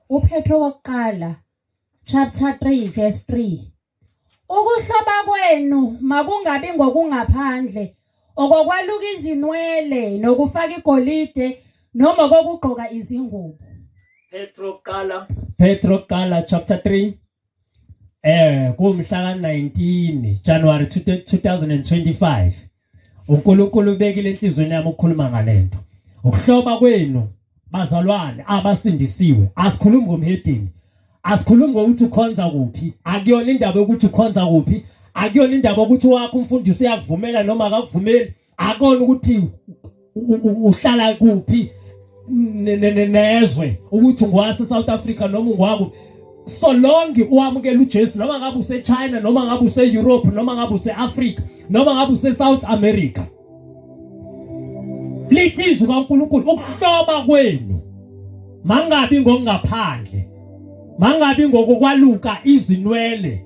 UPetro wokuqala chapter 3 verse 3 Ukuhlaba kwenu makungabi ngokungaphandle okokwaluka izinwele nokufaka igolide noma kokugqoka izingubo Petro kuqala Petro kuqala chapter 3 eh kumhla ka-19 January 2025 uNkulunkulu ubekile enhlizweni yami ukukhuluma ngalento ukuhloba kwenu bazalwane abasindisiwe asikhulumi ngomhedini asikhulumi ngokuthi ukhonza kuphi akuyona indaba yokuthi ukhonza kuphi akuyona indaba ukuthi wakho umfundisi uyakuvumela noma akakuvumeli akona ukuthi uhlala kuphi nezwe ukuthi ngwase South Africa noma ngwaku so long uwamukela uJesu noma ngabe useChina noma ngabe useEurope noma ngabe useAfrica noma ngabe useSouth America lithizwe kaNkuluNkulu ukuhloba kwenu mangabi ngokungaphandle mangabi ngokukwaluka izinwele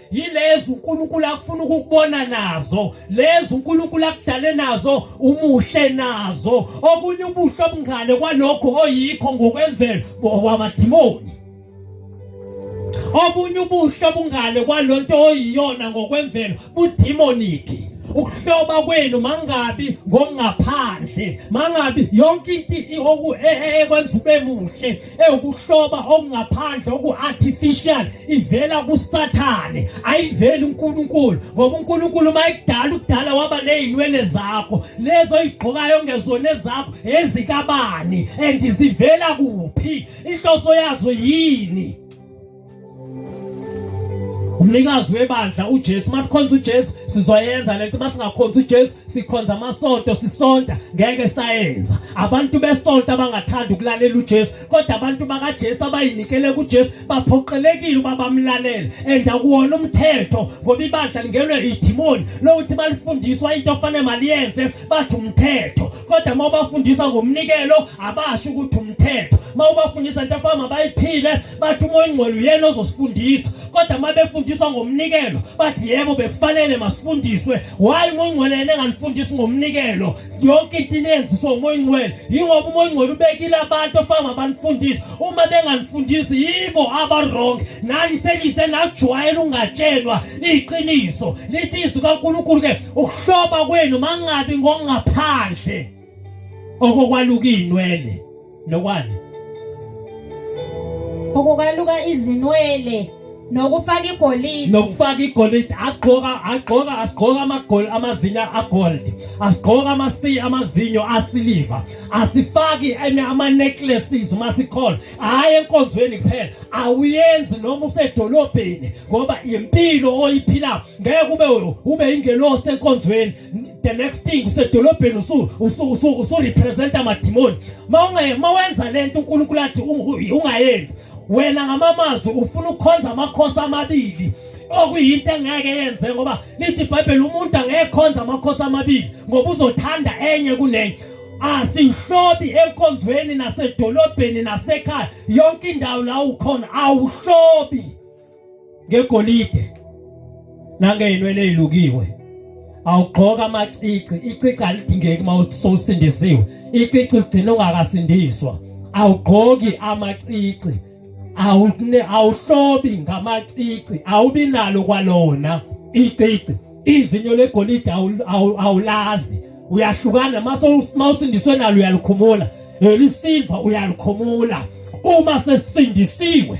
yilezo uNkulunkulu akufuna ukukubona nazo lezo uNkulunkulu akudale nazo umuhle nazo okunye ubuhle obungale kwalokho oyikho ngokwemvelo bowamadimoni obunye ubuhle obungale kwalonto oyiyona ngokwemvelo budemoniki ukuhloba kwenu mangabi ngokungaphandle mangabi yonke into ekwenza ube muhle ewukuhloba okungaphandle oku-artificial ivela kusathane ayiveli unkulunkulu ngoba unkulunkulu uma ekudala ukudala waba nezinwele zakho lezo oyigqokayo ongezona ezakho ezikabani and zivela kuphi inhloso yazo yini umnikazi webandla uJesu masikhonza uJesu sizoyenza lento masingakhonza uJesu sikhonza amasonto sisonta ngeke sayenza abantu besonto abangathanda ukulalela uJesu kodwa abantu bakaJesu abayinikele kuJesu baphoqelekile uba bamlalele and akuwona umthetho ngoba ibandla lingenwe idimoni lokuthi balifundiswa into ofanele maliyenze bathi umthetho kodwa uma ubafundisa ngomnikelo abasho ukuthi umthetho uma ubafundisa into afana mabayiphile bathi umoya ongcwele uyena ozosifundisa kodwa uma befundiswa ngomnikelo bathi yebo bekufanele masifundiswe wayi umoya ongcwele yena engalifundisi ngomnikelo yonke into inenziswa umoya ongcwele yingoba umoya ongcwele ubekile abantu ofana mabanifundise uma bengalifundisi yibo abarong nani senise najwayela ungatshelwa iqiniso lithi izwi kankulunkulu ke ukuhloba kwenu mangabi ngongaphandle okokwaluka izinwele nokwani okokwaluka izinwele nokufaka igolide nokufaka igolide agqoka agqoka asigqoka amagoli amazinyo agold asigqoka amasi amazinyo asiliva asifaki ama necklaces uma sikhona hayi enkonzweni kuphela awuyenzi noma usedolobheni ngoba impilo oyiphila ngeke ube ube ingelosi enkonzweni the next thing usedolobheni usurepresenta amadimoni ma wenza le nto unkulunkulu athi ungayenzi wena ngamamazwi ufuna ukukhonza amakhosi amabili okuyinto engeke yenze ngoba lithi ibhayibheli umuntu angekhonza amakhosi amabili ngoba uzothanda enye kunenye asihlobi enkonzweni nasedolobheni nasekhaya yonke indawo la ukhona awuhlobi ngegolide nangeyinwele ezilukiwe awugqoka amacici icici alidingeki uma usindisiwe icici ugcina ungakasindiswa awugqoki amacici awune awuhlobi ngamacici awubi nalo kwalona icici izinyo legolide awulazi uyahlukana mase usindiswe nalo uyalikhumula elisilva uyalikhumula uma sesindisiwe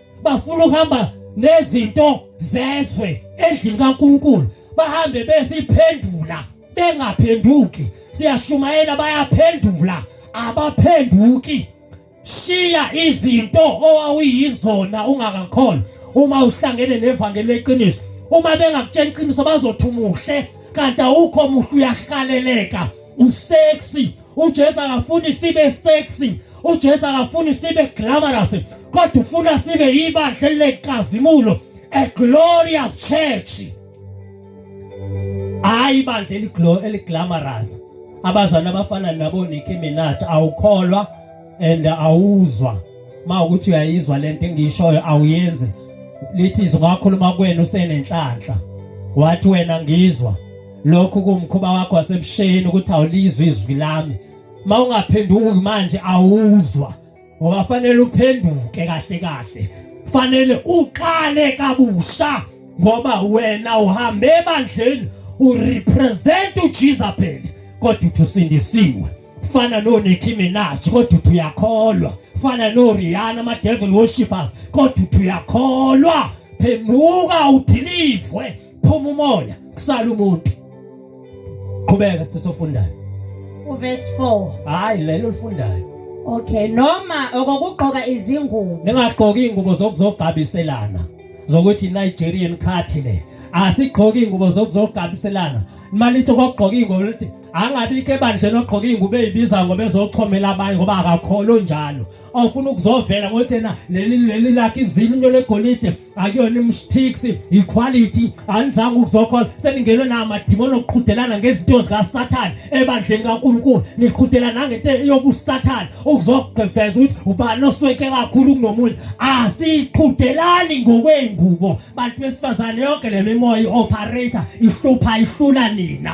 bafuna ukuhamba nezinto zezwe endlini kaNkulunkulu bahambe besiphendula bengaphenduki siyashumayela bayaphendula abaphenduki shiya izinto owawuyizona ungakakholwa uma uhlangene nevangeli leqiniso uma bengakutshela iqiniso bazothi umuhle kanti awukho muhle uyahaleleka usexy uJesu akafuni sibe sexy uJesu akafuni sibe glamorous kodwa ufuna sibe ibandla lenkazimulo a glorious church hayi ibandla eliglo eliglamorous abazana abafana nabo Nicki Minaj awukholwa and awuzwa mawukuthi uyayizwa lento engishoyo awuyenzi lithi izwi ngakhuluma kwenu usenenhlanhla wathi wena ngizwa lokhu kumkhuba wakho wasebusheni ukuthi awulizwe izwi lami uma ungaphenduki manje awuzwa ngoba fanele uphenduke kahle kahle fanele uqale kabusha ngoba wena uhambe ebandleni urepresent uJesu phela kodwa uthusindisiwe fana no Nicki Minaj kodwa uyakholwa fana no Rihanna ama devil worshippers kodwa uyakholwa phenduka udilivwe phuma umoya kusala umuntu qhubeka sisofundayo uverse 4 hayi lelo lifundayo okay noma okokugqoka izingubo ningagqoki ingubo zokuzogabiselana zokuthi Nigerian cut le asigqoki ingubo zokuzogabiselana malithi okugqoka ingubo lithi angabikho ebandleni ogqoka ingubo ezibiza ngoba ezochomela abanye ngoba akakholo njalo awufuna ukuzovela ngothi yena leli leli lakhe izinyo legolide akuyona imstix iquality anizanga ukuzokhona seningenwe namadimoni okuqhudelana ngezinto zikasathane ebandleni kankulunkulu niqhudela nangento yobusathane ukuzogqeveza ukuthi ubani osweke kakhulu kunomunye asiqhudelani ngokwey'ngubo bantu besifazane yonke le mimoya i-operator ihlupha ihlula nina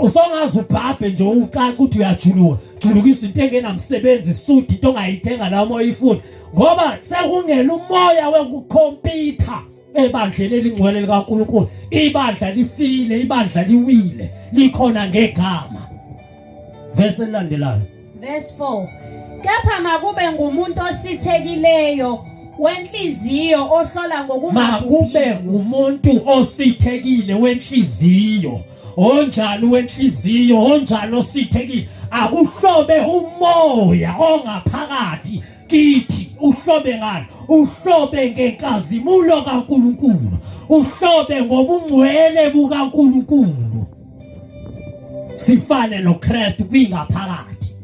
usongaze ubhabhe nje ucaca ukuthi uyajuluka julukisa into engenamsebenzi isudi into ongayithenga la uma uyifuna ngoba sekungena umoya wekukhompyutha ebandleni elingcwele likaNkulunkulu ibandla lifile ibandla liwile likhona ngegama verse elilandelayo verse 4 kepha makube ngumuntu osithekileyo wenhliziyo ohlola ngokumakube ngumuntu osithekile wenhliziyo onjani wenhliziyo onjani osithekile akuhlobe umoya ongaphakathi kithi uhlobe ngani uhlobe ngenkazimulo kaNkuluNkulu uhlobe ngobungcwele bukaNkuluNkulu sifane noKristu kwingaphakathi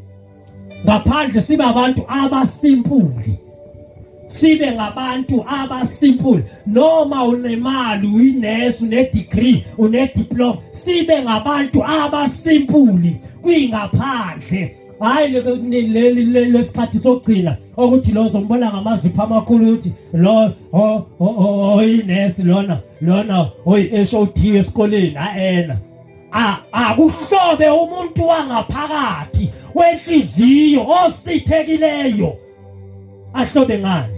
ngaphandle sibe abantu abasimpuli sibe ngabantu abasimpuli noma unemali uyinesu unedegree unediploma sibe ngabantu abasimpuli kwingaphandle hayi leli lesikhathi sokugcina ukuthi lo zombona ngamazipho amakhulu ukuthi lo oyinesi lona lona oyi-SOT esikoleni ayena akuhlobe umuntu wangaphakathi wenhliziyo osithekileyo ahlobe ngani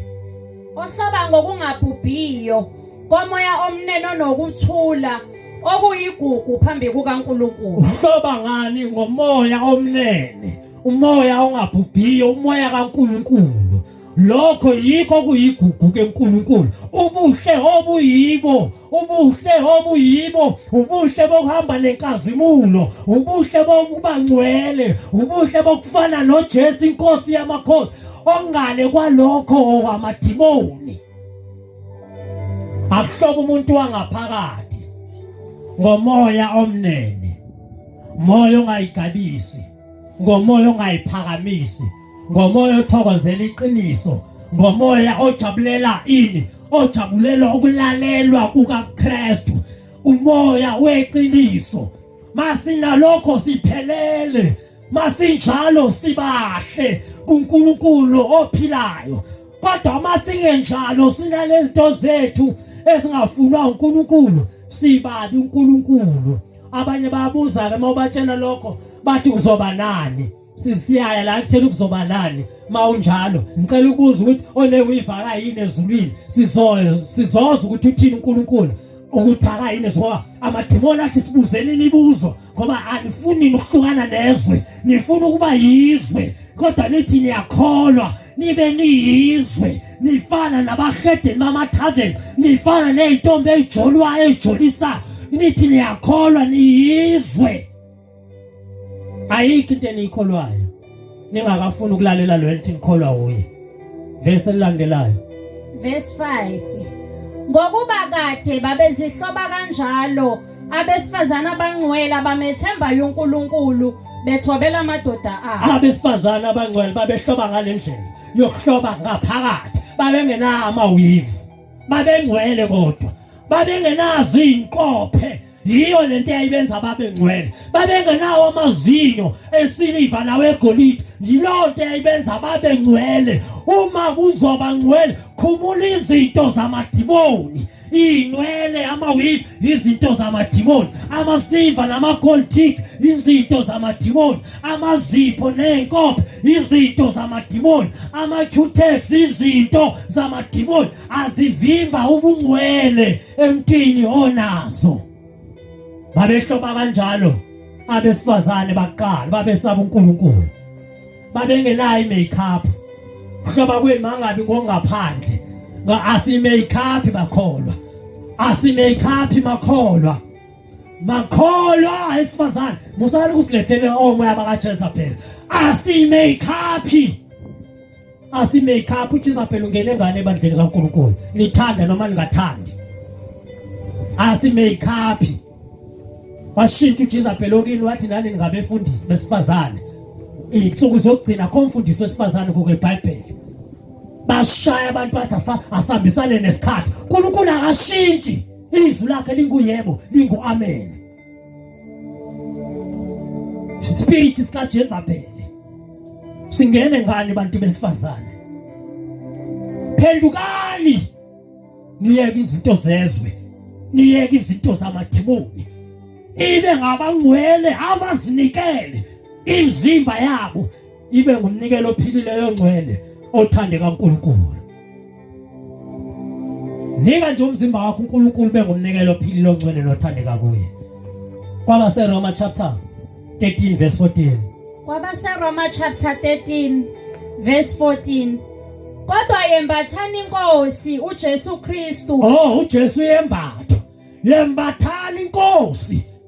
ohloba ngokungabhubhiyo komoya omnene onokuthula okuyigugu phambi kukaNkulunkulu uhloba ngani ngomoya omnene umoya ongabhubhiyo umoya kaNkulunkulu lokho yikho kuyigugu keNkulunkulu ubuhle obuyibo ubuhle obuyibo ubuhle bokuhamba nenkazimulo ubuhle bokuba ngcwele ubuhle bokufana noJesu inkosi yamakhosi ongale kwalokho okwamadimoni akuhlobo umuntu wangaphakathi ngomoya omnene moya ongayigabisi ngomoya ongayiphakamisi ngomoya othokozela iqiniso ngomoya ojabulela ini ojabulela ukulalelwa kukaKristu umoya weqiniso masinalokho siphelele masinjalo sibahle kuNkulunkulu ophilayo kodwa uma singenjalo sinalezinto zethu ezingafunwa uNkulunkulu sibabi uNkulunkulu abanye bayabuza-ke uma ubatshela lokho bathi uzoba nani sisiyaya la kuthela ukuzoba nani mawunjalo ngicela ukubuza ukuthi onewivaka yini ezulwini sizoza sizoza ukuthi uthini uNkulunkulu ukuthaka yini ngoba amadimoni athi sibuzeni imibuzo ngoba anifuni ukuhlukana nezwe nifuna ukuba yizwe kodwa nithi niyakholwa nibe niyizwe nifana nabahedeni bamathaveni nifana ney'ntombi ey'jolwayo ey'jolisa nithi niyakholwa niyizwe ayikho into eniyikholwayo ningakafuni ukulalela lo elithi ngikholwa uye verse elilandelayo verse 5 ngokuba kade babezihloba kanjalo abesifazana abangcwele abamethembayo uNkulunkulu bethobela amadoda abo abesifazana abangcwele babehloba ngalendlela yokuhloba ngaphakathi babengenawo amawivu babengcwele kodwa babengenazo izinkophe yiyo lento eyayibenza babe ngcwele babengenawo amazinyo esiliva nawegolide yilowo nto eyayibenza babe ngcwele uma kuzoba ngcwele khumula izinto zamadimoni iy'nwele ama-wig izinto zamadimoni ama-silver nama-gold tick izinto zamadimoni amazipho ney'nkopho izinto zamadimoni ama-cutex izinto zamadimoni azivimba ubungcwele emntwini onazo babehloba kanjalo abesifazane baqala babesaba uNkulunkulu babengenayo i-makeup kuhloba kwenu mangabi ngongaphandle asi-makeup bakholwa asi-makeup makholwa makholwa esifazane musani kusilethele omoya bakajezabhela asimeyikhaphi asimeyikhaphi ujezabhela ungene ngane ebandleni kankulunkulu nithanda noma ningathandi asimeyikhaphi washintsha ujezabhela okini wathi nani ningabefundisi besifazane iy'nsuku zokugcina kho mfundisi wesifazane kukwebhayibheli bashaya abantu bathi asihambisane nesikhathi unkulunkulu akashintshi Izwi lakhe linguyebo, lingu-amen. Speech sikaJezabel. Singene ngani bantu besifazane? Phendukani. Niyeke izinto zezwe. Niyeke izinto zamadimoni. Ibe ngabangcwele abazinikele imizimba yabo ibe ngumnikelo ophilileyo ongcwele othandeka uNkulunkulu nika nje umzimba wakho uNkulunkulu bengumnikelo ophilileyo ongcwele nothandeka kuye kwabaseroma chapter 13 verse 14 kwabaseroma chapter 13 verse 14 kodwa yembathani inkosi uJesu Kristu oh uJesu yembatha yembathani inkosi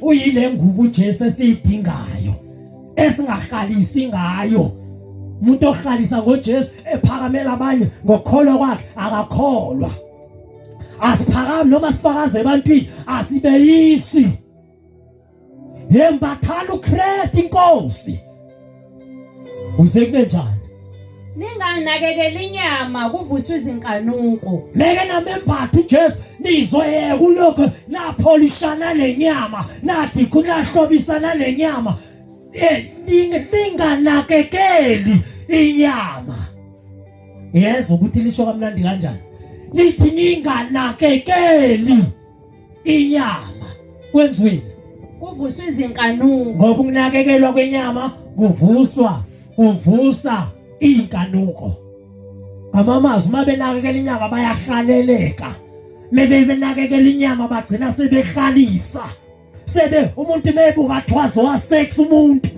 uyile ngubo uJesu esiyidingayo esingahalisi ngayo umuntu ohalisa ngoJesu ephakamela abanye ngokholwa kwakhe akakholwa asiphakami noma sifakaze ebantwini asibeyisi yembathana uKristu inkosi Kuze kube njani? Ninganakekela inyama kuvuswa izinkanuko. Leke namembatha uJesu nizoyeka ulokho napholishana nenyama, nathi kunahlobisana nenyama. Eh ninganakekeli inyama. Yezwa ukuthi lisho kamnandi kanjani? Nithi ninganakekeli inyama kwenziweni kuvuswa izinkanuko ngoba ukunakekelwa kwenyama kuvuswa kuvusa izinkanuko ngamamazwi uma benakekela inyama bayahaleleka mebe benakekela inyama bagcina sebehalisa sebe umuntu mebuka thwazo wa sex umuntu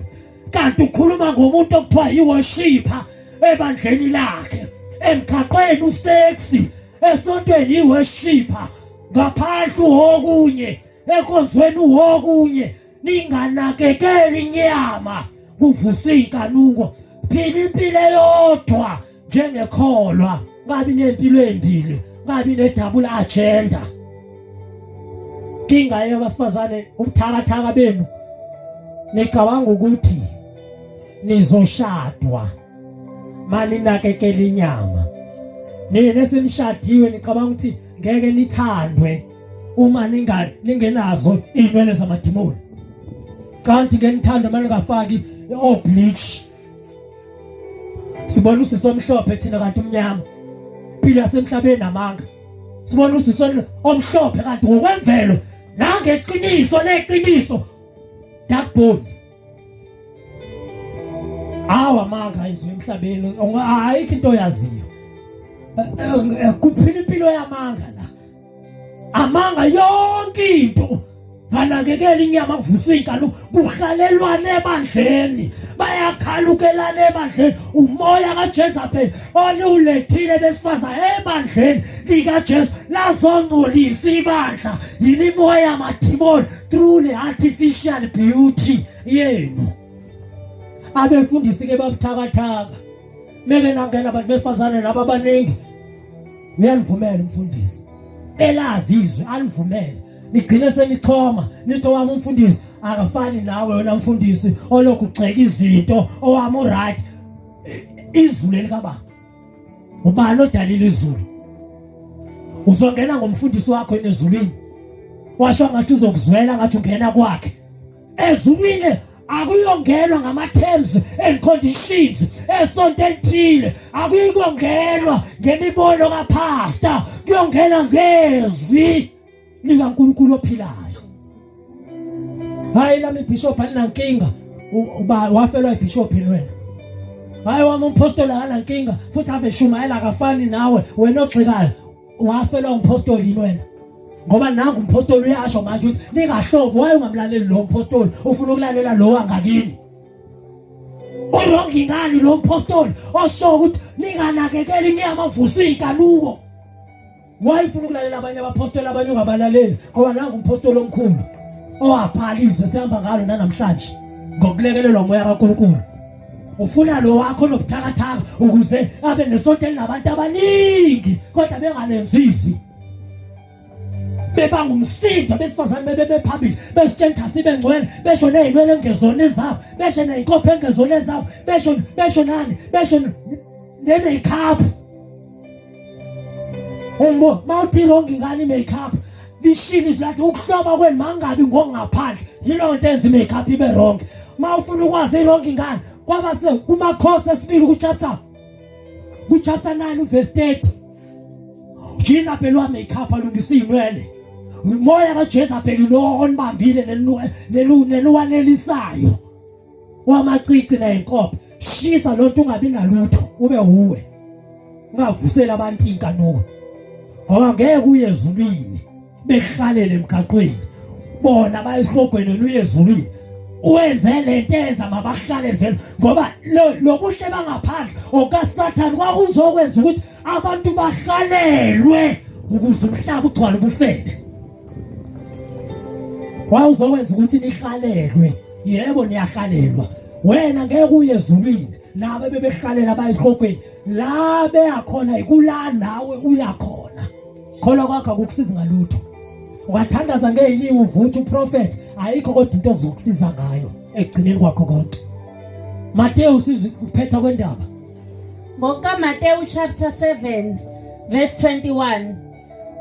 kanti ukhuluma ngomuntu okuthiwa yiworshipa ebandleni lakhe emgaqweni usexi esontweni iweshipa ngaphandle uwokunye enkonzweni uwokunye ninganakekeli inyama kuvusa iy'nkanuko phila impilo eyodwa njengekholwa ngabi nempilo embili ngabi nedabula agenda inkinga yabasifazane ubuthakathaka benu nicabanga ukuthi nizoshadwa maninakekela inyama nina esenishadiwe nicabanga ukuthi ngeke nithandwe uma ninga ningenazo inwele zamadimoni kanti ke nithanda uma ningafaki o bleach sibona usisi omhlophe thina kanti umnyama phila semhlabeni amanga sibona usisi omhlophe kanti ngokwemvelo nangeqiniso leqiniso dark bone awa amanga ayizwe emhlabeni ayikho into oyaziyo eh, eh, eh, kuphila impilo yamanga la amanga yonke into nganakekela inyama kuvuswa inkalo kuhlalelwana ebandleni bayakhalukelana ebandleni umoya kaJesu phela oniwulethile besifaza ebandleni likaJesu lazongcolisa ibandla yimimoya yamathimoni through le artificial beauty yenu abefundisi ke babuthakathaka meke nangena abantu besifazane laba abaningi uyanivumela umfundisi elazi izwi anivumele nigcine senixhoma nithi owami umfundisi akafani nawe wena mfundisi olokhu ugxeka izinto owami uright izwi leli kababa ubani odalile izulu uzongena ngomfundisi wakho enezulwini washo ngathi uzokuzwela ngathi ungena kwakhe ezulwini akuyongenwa ngama-terms and conditions esonto elithile akuyikongenwa ngemibono kaphasta kuyongena ngezwi nika uNkulunkulu ophilayo hayi lami ibishop alinankinga uba wafelwa ibishop wena hayi wami umpostoli akanankinga futhi ave shumayela akafani nawe wena ogxikayo wafelwa umpostoli yini wena ngoba nangu umpostoli uyasho manje ukuthi ningahlobo waye ungamlaleli lo mpostoli ufuna ukulalela lo angakini urongi ngani lo mpostoli osho ukuthi ninganakekeli niyamavusa iy'nkanuko Why ufuna ukulalela abanye abapostoli abanye ungabalaleli ngoba nangu umpostoli omkhulu owabhaliswe sihamba ngalo nanamhlanje ngokulekelelwa umoya kaNkulunkulu ufuna lo wakho nobuthakathaka ukuze abe nesonto elinabantu abaningi kodwa bengalenzisi bebanga umsindo besifazane bebe bephambili besitshentha sibe ngcwele besho nezinwele engezona ezabo besho nezinkopho engezona ezabo besho besho nani besho ne-makeup Umbo mawuthi wrong ngani makeup lishini silathi ukuhloba kwenu mangabi ngokungaphandle yilo nto enza makeup ibe wrong mawufuna ukwazi wrong ngani kwaba se kuma course esibili ku chapter ku chapter 9 verse 30 Jesus pelwa makeup alungisa inwele umoya ka Jesus pelu lo onibambile nenu nenu nenu wanelisayo wamacici nenkopo shisa lonto ungabi nalutho ube uwe ungavusela abantu inkanuko ngoba ngeke uye ezulwini behlalele emgaqweni bona bayesihogweni luye ezulwini wenze lento enza mabahlale vele ngoba lobuhle bangaphandle okasathane kwakuzokwenza ukuthi abantu bahlalelwe ukuze umhlaba ugcwale ubufebe wawuzokwenza ukuthi nihlalelwe yebo niyahalelwa wena ngeke uye ezulwini laba bebehlalela bayisihogweni la beyakhona ikula nawe uyakhona khona kwakho akukusizi ngalutho ungathandaza ngeyinini uvuthi uprofethi ayikho kodwa into okuzokusiza ngayo ekugcineni kwakho konke Mateyu siziphetha kwendaba ngokukaMateyu chapter 7 verse 21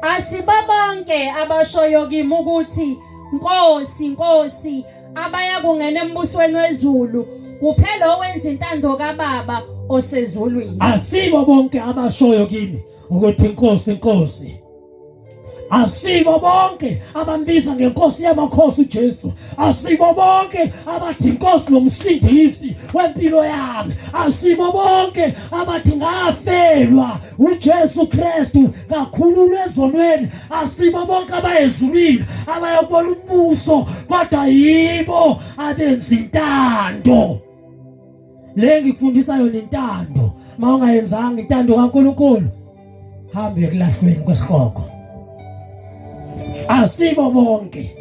Asibabonke abashoyo kimi ukuthi Nkosi, Nkosi, abaya kungena embusweni wezulu kuphela owenza intando kaBaba osezulwini. Asibo bonke abashoyo kimi ukuthi Nkosi, Nkosi. Asibo bonke abambiza ngenkosi yamakhosi uJesu. Asibo bonke abathi inkosi nomsindisi wempilo yami. Asibo bonke abathi ngafelwa uJesu Kristu kakhululwe ezonweni asibo bonke abayezulwini abayokubona umbuso kodwa yibo abenza intando le ngikufundisa yona intando ma ungayenzanga intando kaNkuluNkulu hambe ekulahlweni kwesigogo asibo bonke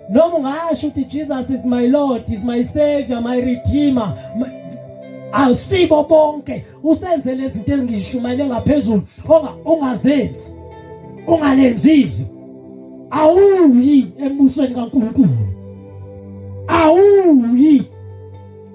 noma ungasho ukuthi Jesus is my Lord is my savior my redeemer awusibo bonke usenze lezinto engishumayele ngaphezulu onga ungazenzi ungalenzizwe awuyi embusweni kaNkulunkulu awuyi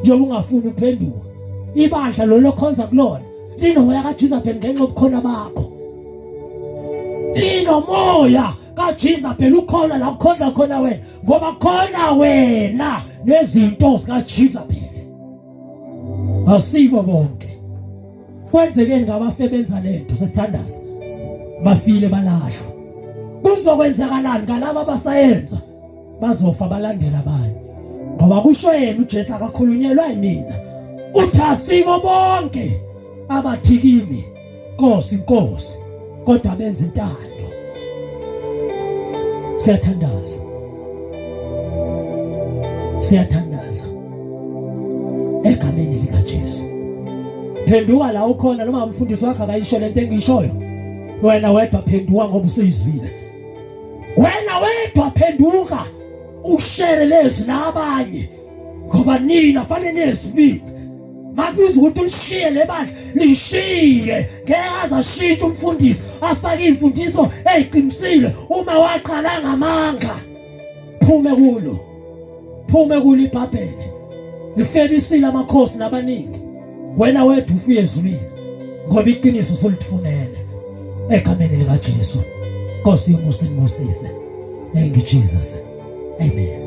njengoba ungafuni uphenduka ibandla lolo khonza kulona linomoya kajizabheli ngenxa yobukhona bakho linomoya kajizabheli ukhona la kukhonza khona wena ngoba khona wena nezinto zikajizabheli asibo bonke kwenzekeni ngabafebenza lento sesithandaza bafile balahlwa kuzokwenzakalani ngalabo abasayenza bazofa balandela bani ngoba kusho yena uJesu akakhulunyelwa yimina uthi asiko bonke abathi kimi Nkosi Nkosi kodwa benza intando siyathandaza siyathandaza egameni likaJesu phenduka la ukhona noma umfundisi wakho akayisho lento engishoyo wena wedwa phenduka ngoba usuyizwile Wena wedwa phenduka ushare lezi nabanye ngoba nina fanele nezibili makubiza ukuthi ulishiye le bandla lishiye ngeke azashintshe umfundisi afake iy'mfundiso ey'qinisile uma waqala ngamanga phume kulo phume kulo ibhabhele lifebisile amakhosi nabaningi wena wedwa ufiye ezulwini ngoba iqiniso usulifunele egameni likaJesu Nkosi yomusa inibusise thank you Jesus amen